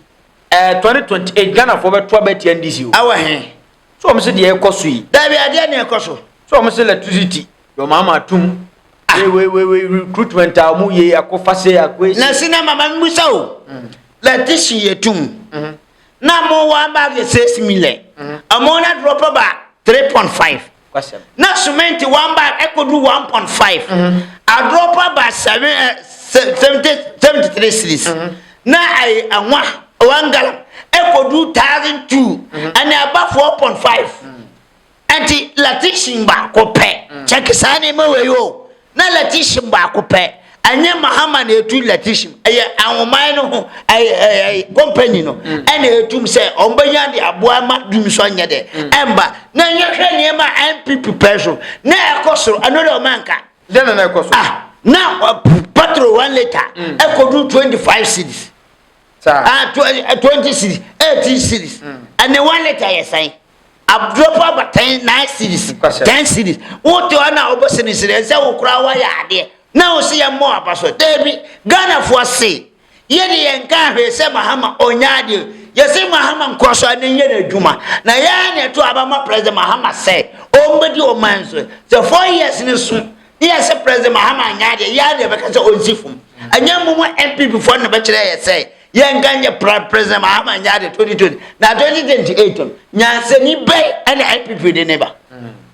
ɛɛ eh, twenty twenty eight ghana foɔ bɛ to abɛ ti ndc o. ɛwɔ hɛn. so wɔn si deɛ ɛkɔ so yi. dabi adeɛ na ɛkɔ so. so wɔn si electricity. Your mama tum. Ah. We we we we recruitment a mu ye ako fase ako esi. Na si na mama mi busa o. Mm. Letishi ye tum. Mm-hmm. Na mo wa ba ge se simile. Mm-hmm. Amo na drop ba 3.5. Kwasem. Na cement wa ba ekodu 1.5. Mm-hmm. A drop ba 7 70 73 series. Mm-hmm. Na ai anwa wangala ekodu 1002. Mm-hmm. Ani aba 4.5. Mm-hmm. Enti latisim baako pɛ, kyɛke saa nneɛma wei o, na latisim baako pɛ, ɛnyɛ Mahama na etu latisim, ɛyɛ ahoman no ho ɛyɛ ɛyɛ kɔmpani no ɛna etum sɛ wɔn bɛnya de aboa ma dum so nyɛ dɛ ɛmba na yɛhwɛ nneɛma a NPP pɛ so na ɛkɔ soro ɛno de ɔma nka. Dɛn na na ɛkɔ so? Ah, na petrol one litre ɛkɔdu twenty five cedis. Saa. Ah, tw eh, twenty series, eighteen series, ɛne mm. one liter yɛ sɛn? Abdropa aba ten nine series, ten series. Wote hɔ na wobɔ sinisini ɛsɛ wo koraa woayɛ adeɛ na wo se yɛ mmɔ aba so. Dabi, Ghanafoɔ se yɛde yɛn ka ahwee sɛ Mahama ɔnya adeɛ. Yɛse Mahama nkɔ so ne yɛ n'adwuma. Na yɛn na ɛto abama President Mahama sɛ ɔmbɛdi ɔman so. Sɛ four years ne so ne yɛ sɛ president mahama anyɛ adeɛ yɛ adeɛ bɛka sɛ ɔnsi fam ɛnyɛ mo mo npp foɔ no bɛkyerɛ yɛ sɛ yɛnka nyɛ president mahama anyɛ adeɛ 2020 na 2028 no nyansani bɛn ɛna npp de ne ba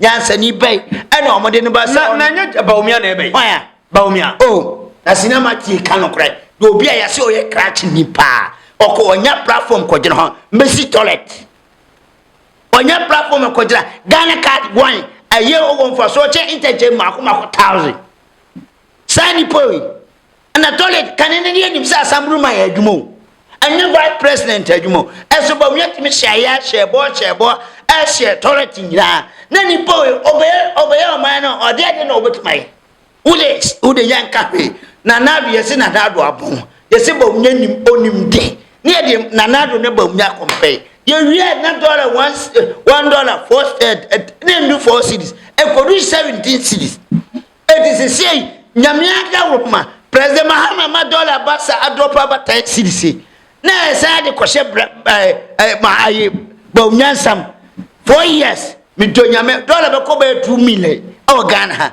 nyansani bɛn ɛna ɔmode ne ba sɛ na ɛnyɛ baomia na ɛbɛyi hwan a baomia o oh, na sinama tie ka nokorɛ na obi a yɛse ɔyɛ krakye ni paa ɔkɔ ɔnya platform kɔgyene hɔ mbɛsi toilet ɔnya platform ɛkɔgyina Ghana card one ɛyɛ ɔwɔ mfasoɔ kyɛ ntɛnkyɛn mako mako thousand saa nipa yi ɛna toilet kane ne ne anim sɛ asamburu man adwuma o ɛnyɛ vice president adwuma o ɛso bɔ wia tumi hyɛ ayɛ ahyɛ bɔ hyɛ bɔ ɛhyɛ toilet nyinaa na nipa yi ɔbɛyɛ ɔbɛyɛ ɔman no ɔde ɛde na ɔbɛtuma yi Wodex wode yɛnka hwee, Nana Addo yɛse Nana Addo abɔn, yɛse Bawumnya nim onim de, ne yɛde Nana Addo ne Bawumnya compare, yɛwie a na dɔla one one dɔla four ne ndu four cedis, ɛkɔdu seventeen cedis, eti sesei Nyame adaworoma, President Mahama ma dɔla aba sa adrɔp aba ten cedis yi, na yɛsan de kɔhyɛ bra ɛɛ ɛɛ ma ayi Bawumnya nsam, four years, medɔ Nyame dɔla bɛkɔ bɛyɛ two million ɛwɔ Ghana ha.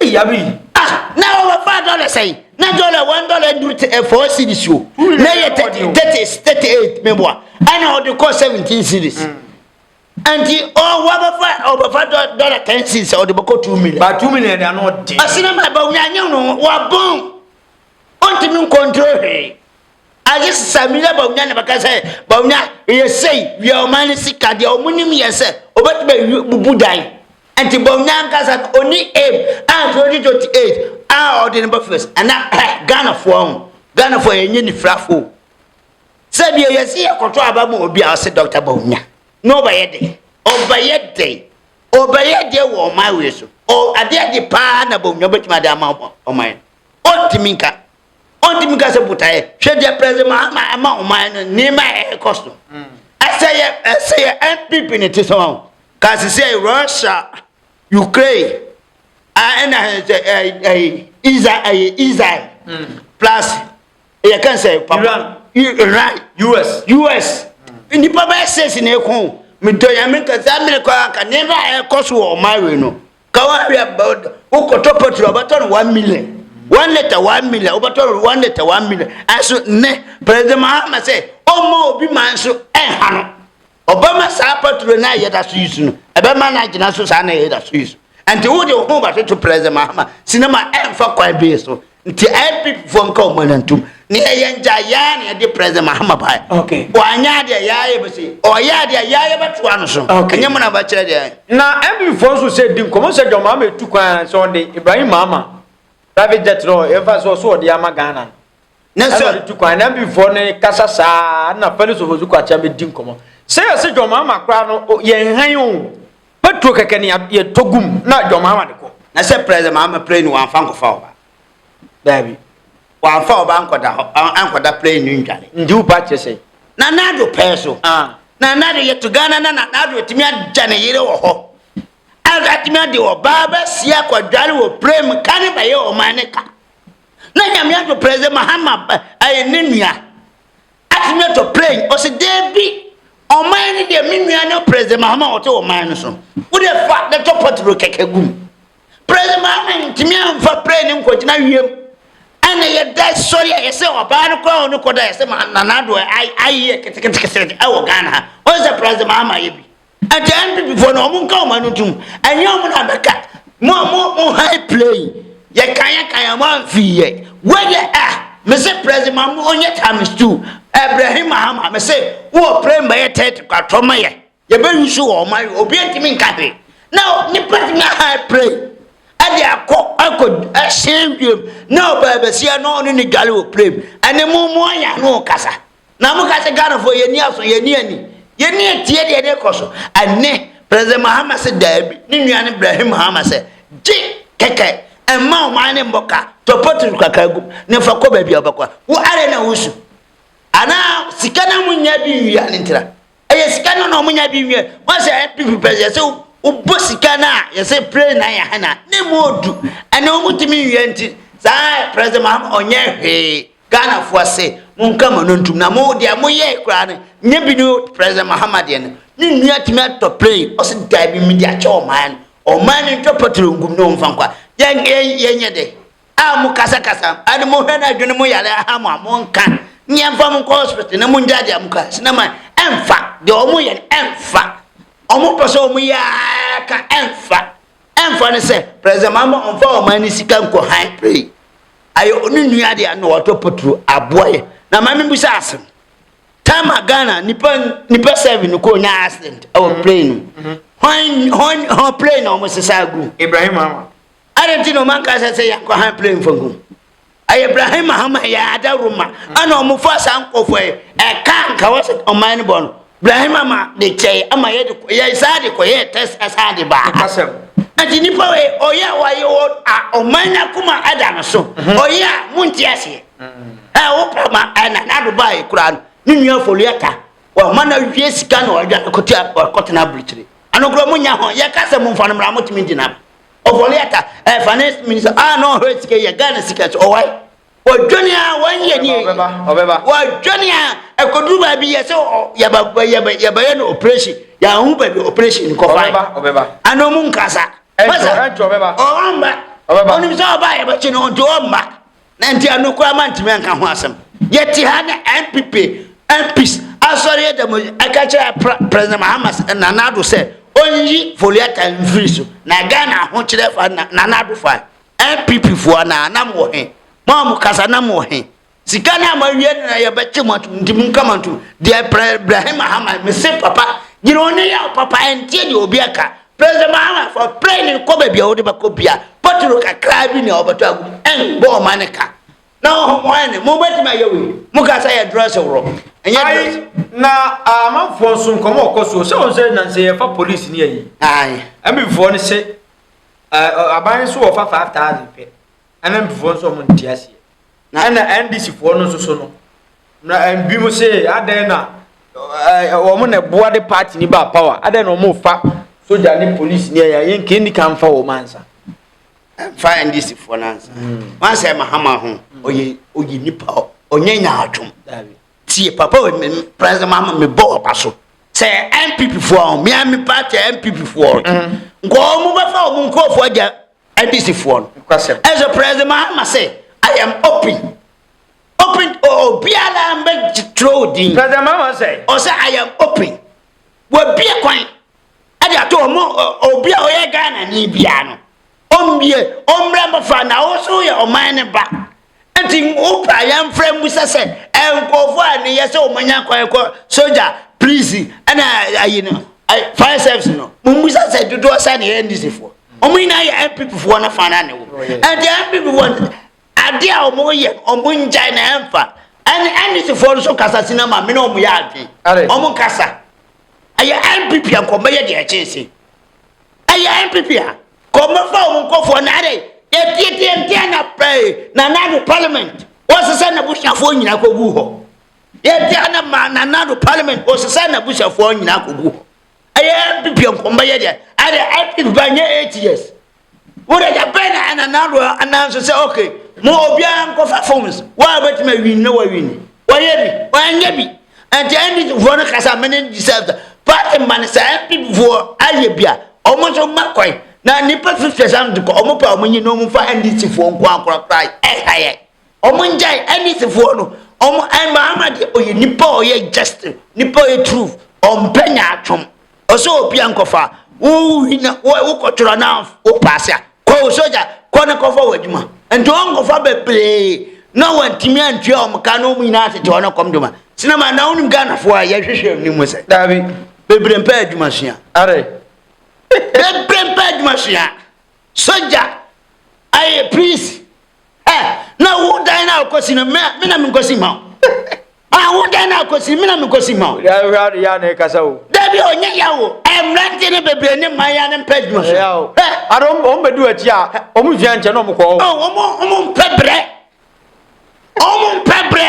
Yabi yi. Ah, na wɔwɔ five dollars ayi. Na dollar one dollar duru te eh, four series o. Na yɛ thirty thirty thirty eight mi bua. Ɛna ɔde kɔ seventeen series. Nti ɔwɔ bɛfa ɔbɛfa dollar ten series ɔde bɛkɔ two million. Ba two million da no ɔde. Asinama ba onyanyew no wabɔn. Ɔntumi nkontrol hwee. Agye sɛ sɛ menya Bawumia na bɛka sɛ Bawumia yɛ sei wia ɔman no sika deɛ wɔn nim yɛ sɛ ɔbɛtumi bubu dan nti Bawumia ankasa no ɔni aim a 2028 a ɔde no bɛfɛs ɛna ɛ Ghanafoɔ ho Ghanafoɔ yɛ nye nifirafoɔ sɛ deɛ yɛsi yɛ kɔtɔ aba mu obi a ɔsɛ Dr. Bawumia na ɔbɛyɛ den ɔbɛyɛ den ɔbɛyɛ deɛ wɔ ɔman wei so adeɛ de paa na Bawumia bɛtumi ade ama ɔman ɔntumi nka ɔntumi ka sɛ botaeɛ hwɛ deɛ president mahama ama ɔman no nneɛma a ɛrekɔ so ɛsɛ yɛ ɛsɛ yɛ npp ne te sɛ wɔn ka sisi ɛyɛ russia ukraine a ɛna ɛsɛ ɛyɛ ɛyɛ israel ɛyɛ israel plus ɛyɛ kan sɛ papa Iran. I- iran us us nnipa bɛyɛ six na ɛko medɔ yame nka saa mmerɛ kɔ anka nneɛma a ɛkɔ so wɔ ɔman wei no Ka wo hwɛ a, wokɔtɔ petrol wobɛtɔ no one million one litre one million wobɛtɔ no one litre one million ɛso nnɛ president mahama sɛ ɔmma obi ma nso ɛnha no ɔbɛma saa petrol no a yɛda so yi so no ɛbɛma no agyina so saa na yɛda so yi so ɛnti wode wo ho bɛtoto president mahama sinema ɛmfa kwan bee so nti npp foɔ nka wɔn ani ntom ne ɛyɛ ngya yaa na yɛde president mahama baeɛ Okay. wanyɛ adeɛ yaa yɛ bɛsi ɔyɛ adeɛ yaa yɛ bɛtoa no so Okay. ɛnyɛ mu na bɛkyerɛ deɛ na npp foɔ nso sɛ di nkɔmmɔ sɛ john mahama ɛtu kwan a sɛ ɔde ibrahim mahama private jet no ɛmfa sɛ ɔso ɔde ama ghana no ne ɛna sɛ ɔde tu kwan na npp foɔ no kasa saa na felix ofosu kwakyɛn bɛdi nkɔmmɔ sɛ yɛse john mahama koraa no o- yɛnhan o Petro kɛkɛ ne yɛtɔ gum na John Mahama de kɔ. Na sɛ President Mahama plane no wɔamfa nkɔfa ɔba. Daabi. Wɔamfa ɔba ankɔda hɔ, ankɔda plane no ndware. Nti wo ba kyerɛ sɛn? Nana Addo pɛɛ so. Nana Addo yɛto Ghana na Nana Addo atumi agya ne yere wɔ hɔ. Atumi ade ɔba abɛsi akɔdware wɔ plane mu ka ne bɛyɛ ɔman ne ka. Na Nyame ato President Mahama ɛyɛ ne nua. Atimiato Plane ɔse deebi ɔman no deɛ me nua ne President Mahama a ɔte ɔman no so wode fa de tɔ patro kɛkɛ gu mu. President Mahama ntumi amfa plane no nkɔgyina wiem ɛna yɛda sɔre a yɛsɛ ɔbaa no koraa ɔno kɔda yɛsɛ Nana Addo ayɛ ketekete ɛwɔ Ghana ha ɔsɛ President Mahama ayɛ bi. Ɛnkyɛ NPP foɔ no wɔn nka wɔn ano ntum. Ɛnyɛ wɔn na bɛka. Mo a mo mo high play. Yɛ kan yɛ kan wɔn anfii yɛ. Wei deɛ ah me se prezi ma mo onyɛ times two. Ɛbrɛhi mahama me se wo wɔ play mbɛyɛ third kwa tɔ ma yɛ. Yɛ bɛ yusu wɔn ma yɛ obi ntumi nka hwee. Na nipa tumi a high play. Ɛde akɔ ɛkɔ ɛhyɛn wiem. Na ɔbaa bɛsia na ɔne ne dwale wɔ play mu. Ɛne mo mo ayɛ ano kasa. Na mo ka sɛ Ghanafoɔ yɛn ni aso yɛn ni ani yɛn ni atie deɛ ɛde kɔ so ɛne President Mahama sɛ daabi ne nua ne Brahim Mahama sɛ gye kɛkɛ ɛmma ɔman ne mmɔ ka tɔ potros kakra gum ne fa kɔ baabi a wobɛkɔ a wo ara na wosu anaa sika na mo nya bi wia ne ntira ɛyɛ sika no na ɔmonya bi nwɛ wasɛ npp pɛ yɛsɛ wobɔ sika no a yɛsɛ plane na yɛ hana ne mu odu ɛna ɔmotumi nwia nti saa president mahama ɔnyɛ hwee ghanafoɔ se monka mo no ntum na mo deɛ moyɛ koraa no nyɛ bi ne president mahama deɛ no ne nua tumi atɔ plane ɔse daa bi mede akyɛ ɔman no ɔman no ntwa patro nkum ne ɔmfa nkwa yɛnyɛ dɛ a mo kasa kasa ɛne mo hwɛ na adwene mo yare aha mo a mo nka nyɛ nfa mo nkɔ hospital na mo ngya deɛ mo ka sinama ɛnfa deɛ ɔmo yɛ ɛnfa ɔmo pɛ sɛ ɔmo yɛ ka ɛnfa ɛnfa ne sɛ president mama ɔnfa ɔmo ani sika nkɔ han pray ayɛ ɔno nua deɛ na ɔtɔ poturo aboa yɛ na maame bu sɛ asɛm tama ghana nipa nipa seven kɔ nya accident ɛwɔ plane no hɔn hɔn hɔn plane na ɔmo sesa agu ibrahim ama. Adɛn nti na ɔma nka sɛ sɛ yɛnkɔ han plane fa hu? Ɛyɛ Ibrahim Mahama yɛ ada Roma ɛna ɔmo fa saa nkɔfoɔ yi ɛka nka wɔ sɛ ɔman no bɔ no. Ibrahim ama de kyɛɛ ama yɛ de yɛ saa de kɔ yɛ test ɛsan de baa. Kasɛm. Nti nipa wei ɔyɛ a wayɛ wɔ a ɔman no akoma ɛda no so. Mhm. Ɔyɛ a mo nti aseɛ. Ɛ mhm. wo pa ma ɛna na do baa yɛ kura no. Ne nua foliata. Wɔ ma na wie sika na ɔdwa kɔte kɔtena aburukyire. Ano kura mo nya ho yɛ kasɛm mo nfa no mra mo tumi gyina. ɔfɔle aka ɛ finance minister a ah, na ɔhwɛ sika yɛ ghana sika so ɔwae wɔdwane a wɔnyɛ ne wɔdwane a ɛkɔduru baabi yɛ sɛ yɛbɛyɛ no operation yɛaho baabi operation kɔfa ana mu nkasa masa ɔwɔmba ɔnim sɛ ɔba yɛbɛkye no nti ɔmba Na nti ano koraa mantumi anka ho asɛm. Yɛte ha na NPP, MPs, asɔre yɛ dɛm ɛka kyerɛ President Mahamas Nana Addo sɛ ɔnyi Foliata mfiri so. Na Ghana ahokyerɛ fa Nana Addo fa. NPP foɔ anaa na mowɔ he? Mo a mo kasa na mowɔ he? Sika no a moawie no na yɛbɛkye mo atom nti monka mo ntom. Deɛ Pre Brahim Mahama mese papa gyina wo ne yɛ wo papa ɛnteɛ deɛ obi aka. President Mahama for training kɔ baabi a wode bɛkɔ bia bottle kakraa bi nea wɔbɛtɔ agu mu ɛnbɔ ɔma ne ka na ɔho mo ɛne mo bɛtumi ayɛ wei mo ka sɛ yɛ dress worɔ ɛnyɛ dress na amanfoɔ nso nkɔmɔ ɔkɔ so sɛ wɔn sɛ nansɛ yɛfa polisi ne ayi ɛmbifoɔ no se aban nso wɔfa 5000 pɛ ɛna mbifoɔ nso wɔn nti aseɛ Na ɛna NDC foɔ no nso so no, na ɛbi mo se adɛn na wɔn na ɛboa de party ni ba power, adɛn na wɔn fa soja ne police ni ɛyɛ yɛn kɛn ni ka nfa wɔn ansa. Ɛnfa NDC foɔ no ansa. Mm. Wɔn asɛ Mahama ho, ɔyɛ mm. ɔyɛ nipa ɔnyɛ nyaatwom. Tie papa wɔ mi president Mahama mi bɔ ɔba so. Sɛ NPP foɔ ho, mi a mi party NPP foɔ. Mm. Nkɔɔ mo bɛfa wɔn nkɔɔfoɔ agya ndc foɔ no ɛsɛ president mahama sɛ i am open open obiara mbɛ twerɛ odin president mahama sɛ ɔsɛ i am open wɔbie kwan ɛde ato ɔmo obi a ɔyɛ ghana ni biara no ɔmbie ɔmmerɛ mbɛfa na ɔso yɛ ɔman ne ba Enti wopɛ a yɛmfrɛ mmusa sɛ nkurɔfoɔ a ne yɛ sɛ wɔanya kwan kɔ sogya, polisi, ɛna ayi no, fire service no, mommusa sɛ dodoɔ sɛ ne yɛ NDCfoɔ. Wɔn nyinaa yɛ NPPfoɔ no fa no ne wo. Enti NPPfoɔ no adeɛ a wɔyɛ wɔn ngyae na ɛmfa. Ɛne NDCfoɔ no so kasa si na ma me ne wɔn yɛ adwene. Wɔn nkasa. Ɛyɛ NPP a nkɔmmɛyɛ deɛ ɛkyɛn sei. ɛyɛ npp a kɔ mmɛfa wɔn nkɔfoɔ na adɛ yɛtietie nteɛ na pɛɛ na nado parliament wɔsesɛ n'abusuafoɔ nyinaa kɔgu hɔ yɛtia na ma na nado parliament wɔsesɛ n'abusuafoɔ nyinaa kɔgu hɔ ɛyɛ npp nkɔmbɛyɛ deɛ adɛ npp ba nyɛ eight years wode agya bɛn na ɛna nado anan so sɛ ok mo obiara nkɔfa forms wo a wobɛtumi awin na wawini wɔyɛ bi wɔanyɛ bi ɛnti ndcfoɔ no kasa mene ndisɛfta party ma no sɛ ndcfoɔ ayɛ bi a ɔmo nso ma kwan na nipa fifty sam de kɔ ɔmo pɛ ɔmo nyi na ɔmo fa ndcfoɔ nko akorakora ɛha yɛ Ɔmo ngyae NDC foɔ no ɔmo ɛn Mahama deɛ ɔyɛ nipa a ɔyɛ just nipa ɔyɛ truth ɔmpɛ nyaatwom ɔsɛ obia nkɔfa wo wina wokɔ twerɛ na wo paase a kɔ wo soja kɔ ne kɔfa wɔ adwuma nti ɔnkɔfa bebree na wantumi antua ɔmo ka na ɔmo nyinaa tete ɔno kɔm doma sinama na wonim Ghanafoɔ a yɛhwehwɛ ne mu sɛ daabi bebree mpɛ adwuma sua are bebree mpɛ adwuma sua soja ayɛ priest Eh, na wo dan na akosi no me me na menkosi ma wo. Ah, wo dan na akosi me na menkosi ma wo. Ya hura de ya na ekasa wo. Dabi o nye ya wo. Eh, mrante ne bebre ne man ya ne mpa adwuma so. Ya o. Eh, ado om be du achi a, om hwia nche na om kɔ o. Oh, om om mpe bre. Om mpe bre.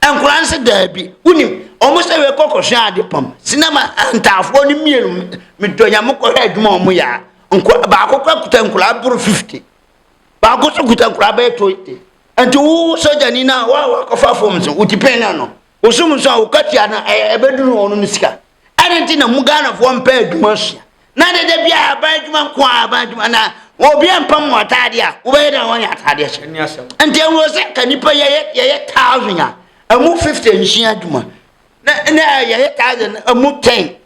Nkwadaa no sɛ daabi. Wonim, wɔn sɛ wei kɔkɔhwɛ ade pam. Sinama ntaafoɔ no mmienu medɔ nya mokɔhwɛ adwuma wɔn yɛ a, nkwa baako kora kuta nkwadaa boro 50. Baako nso kuta nkwadaa bɛyɛ 20. Nti wo sogyani no a wo a wakɔfa fam nso, wo tipɛn no ano. Wosom nso a, wokatua no a, ɛbɛduru wɔn no sika. Adɛn nti na mo Ghanafoɔ mpɛ adwuma sua? Na dede biara aban adwuma nko a aban adwuma na obi mpa mu ataadeɛ a wobɛyɛ dɛ wɔnyɛ ataadeɛ hyɛ. Ɛni asɛm. Nti ɛwɔ sɛ ka nipa yɛyɛ yɛyɛ thousand a ɛmu fifty nsua adwuma na na yɛyɛ thousand ɛmu ten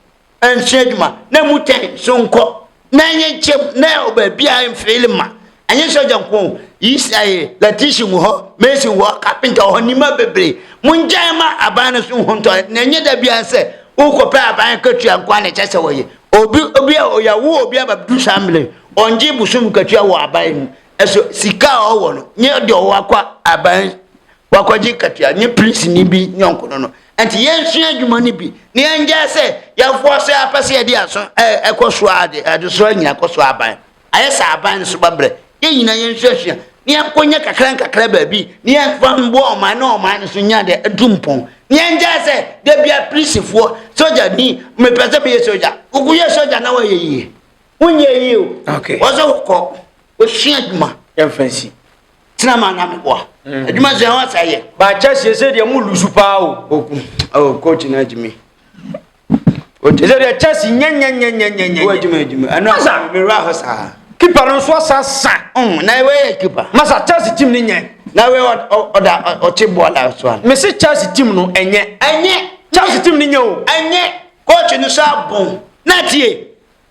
nsua adwuma na ɛmu ten so nkɔ na ɛnyɛ nkyɛm na ɛwɔ baabi a mfeele ma ɛnyɛ sɔgya nko yi ɛyɛ lɛtisi wɔ hɔ mesi wɔ hɔ kapinta wɔ hɔ nneɛma bebree mo ngyan ma aban no so ho ntɔ na ɛnyɛ da bia sɛ wokɔpɛ aban katua nko a na ɛkyɛ sɛ wɔyɛ obi obi a ɔyɛwo obi a bɛdu saa mmerɛ ɔngye bosom katua wɔ aban mu ɛso sika a ɔwɔ no nye deɛ ɔwɔ akɔ aban wakɔgye katua nye polisini bi nyɔnko no no nti yɛnsua adwuma no bi na yɛngyae sɛ yɛfoɔ so apɛ sɛ yɛde aso ɛkɔ so ade adesoa nyina kɔ so aban ayɛ sɛ aban no so babrɛ yɛn nyina yɛnsuasua na yɛnkɔnya kakra nkakra baabi na yɛmfa mboa ɔman na ɔman no so nya dɛ atu mpɔn na yɛngyae sɛ da bia polisifoɔ sogya ni mepɛ sɛ meyɛ sogya wokoyɛ sogya na wɔyɛ yie wonyɛ yie o Okay. wɔ sɛ wokɔ wosua adwuma yɛmfa nsi tena ma na meboa mm. adwuma sua ho asa yɛ baakyɛ sie sɛ deɛ mo lusu paa o oku oh, coach no agyimi ɛsɛ deɛ chess nyɛnyɛnyɛnyɛnyɛnyɛ wɔ adwuma adwuma ɛno asa mewura hɔ saa kipa no nso asa sa mm, na ɛwɛyɛ kipa masa chess team no nyɛ na wɛ ɔda ɔkye boa da so a mese chess team no ɛnyɛ ɛnyɛ chess team no nyɛ o ɛnyɛ coach no so abon na tie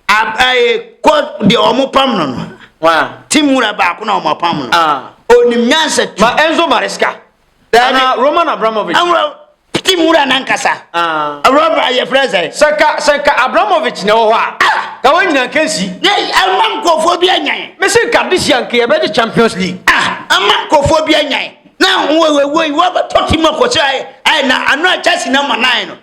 deɛ wɔn pam no no ti nwura baako na wɔn apam no onim nyansa tu ma Enzo Maresca ana Roman Abramovich ɛwura ti nwura nankasa awura yɛ fira sɛ sɛka sɛka Abramovich na ɛwɔ hɔ a ka wɔn nyinaa nka nsi ɛma nkurɔfoɔ bi anyan mesi nka de si anka yɛbɛgye Champions League ɛma nkurɔfoɔ bi anyan na wɔwɔ wɔwɔ wɔbɛtɔ ti mu akɔsɛ ayɛ ayɛ na ano a Chelsea na ma nan no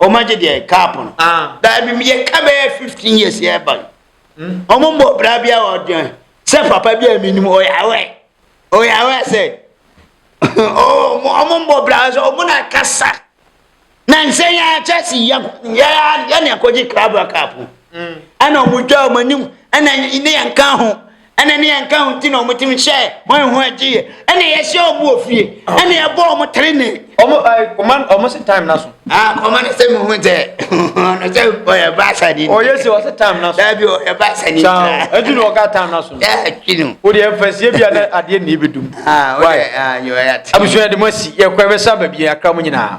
wɔn agye deɛ cup no ah. daabi yɛ ka bɛyɛ fifteen years yɛ ba hmm? wɔn mbɔ bra bi a wɔdeɛ sɛ papa bi a mi nim ɔyɛ awɛ ɔyɛ awɛ sɛ wɔn mbɔ bra sɛ wɔn na kasa na nsɛn yɛ akyɛ si yam yɛ yɛ ne akɔgye krabra cup hmm. ɛna wɔn dwa wɔn anim ɛna ne yɛn ka ho ɛna ne ɛnka ho nti na wɔn tumi hyɛ wɔn ho agyeɛ ɛna yɛhyɛ wɔn wɔ fie ɛna yɛbɔ wɔn tere ne. wɔn ayi wɔn wɔn se time na so. aa kɔma ne sɛ mo ho sɛ ɔno sɛ ɔyɛ baasa ni. ɔyɛ sɛ ɔsɛ time na so. daabi ɔyɛ baasa ni. saa ɛtu na ɔka time na so. ɛɛ twi no. o de ɛfɛ sie bi a na adeɛ na ebi dum. aa o de aa yɛ ɔyɛ ati. abusua de mo asi yɛ kɔ ɛbɛ sa baabi yɛ akra mo nyinaa.